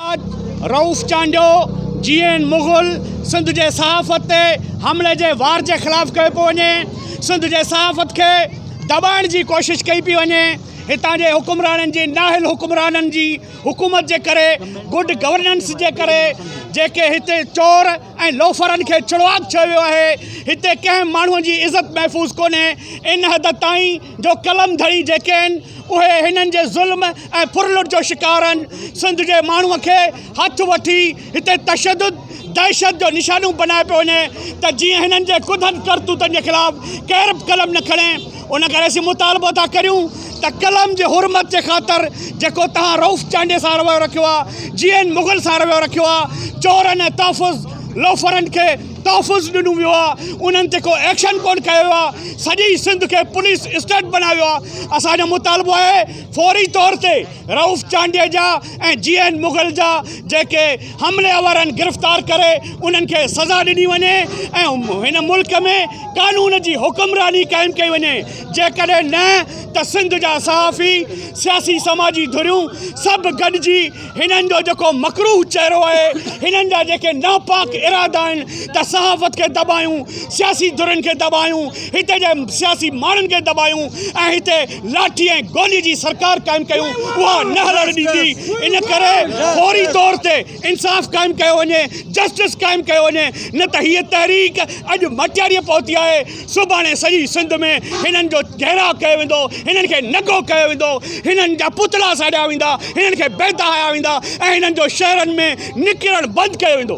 بعد Rauf Chandio, G N Mughal, Sindh جي صحافت تي حملي جي وار جي خلاف ڪيو پيو وڃي، سنڌ جي صحافت کي دٻائڻ جي ڪوشش ڪئي پئي وڃي، هتان جي حڪمرانن جي نااهل حڪمرانن جي حڪومت جي ڪري، گڊ گورننس جي ڪري جيڪي هتي چور ۽ لوفرن کي چڙواڪ چيو ويو آهي، هتي ڪنهن ماڻهو جي عزت محفوظ ڪونهي، ان حد تائين. جو قلم ڌڻي جيڪي آهن اهي هنن جي ظلم ۽ ڦرلٽ جو شڪار آهن سنڌ جي ماڻهو کي هٿ وٺي هتي تشدد دهشت جو نشانو بنائي پيو وڃي ته جيئن هنن جي ڪڌن ڪرتوتن جي خلاف ڪير به قلم نه کڻي ان ڪري اسين مطالبو ٿا ڪريون ته قلم جي حرمت جي خاطر جيڪو تهان رئوف چانڊيي سان رويو رکيو آهي جيئن مغل سان رويو رکيو آهي چورن ۽ تحفظ لوفرن کي تحفظ ڏنو ويو آ انهن تي ڪو ايڪشن ڪون ڪيو ويو آ سڄي سنڌ کي پوليس اسٽيٽ بنايو ويو آ اسان جو مطالبو آهي فوري طور تي رئوف چانڊيي جا ۽ جي اين مغل جا جيڪي حملي آور آهن گرفتار ڪري انهن کي سزا ڏني وڃي ۽ هن ملڪ ۾ قانون جي حڪمراني قائم ڪئي وڃي جيڪڏهن نه ته سنڌ جا صحافي سياسي سماجي ڌريون سڀ گڏجي هنن جو جيڪو مڪروه چهرو آهي، هنن جا جيڪي ناپاڪ ارادا آهن ته صحافت کي دٻايون، سياسي ڌرين کي دٻايون، هتي جي سياسي ماڻهن کي دٻايون ۽ هتي لاٺي ۽ گولي جي سرڪار قائم ڪيون، اها نه هلڻ ڏيندي. ان ڪري فوري طور تي انصاف قائم ڪيو وڃي، جسٽس قائم ڪيو وڃي، نه ته هيء تحريڪ اڄ مٽياريء پهتي آهي. سڀاڻي سڄي سنڌ ۾ هنن جو گهيراء ڪيو ويندو، هنن کي ننگو ڪيو ويندو، هنن جا پتلا ساڙيا ويندا، هنن کي بيداهيا ويندا ۽ هنن جو شهرن ۾ نڪرڻ بند ڪيو ويندو.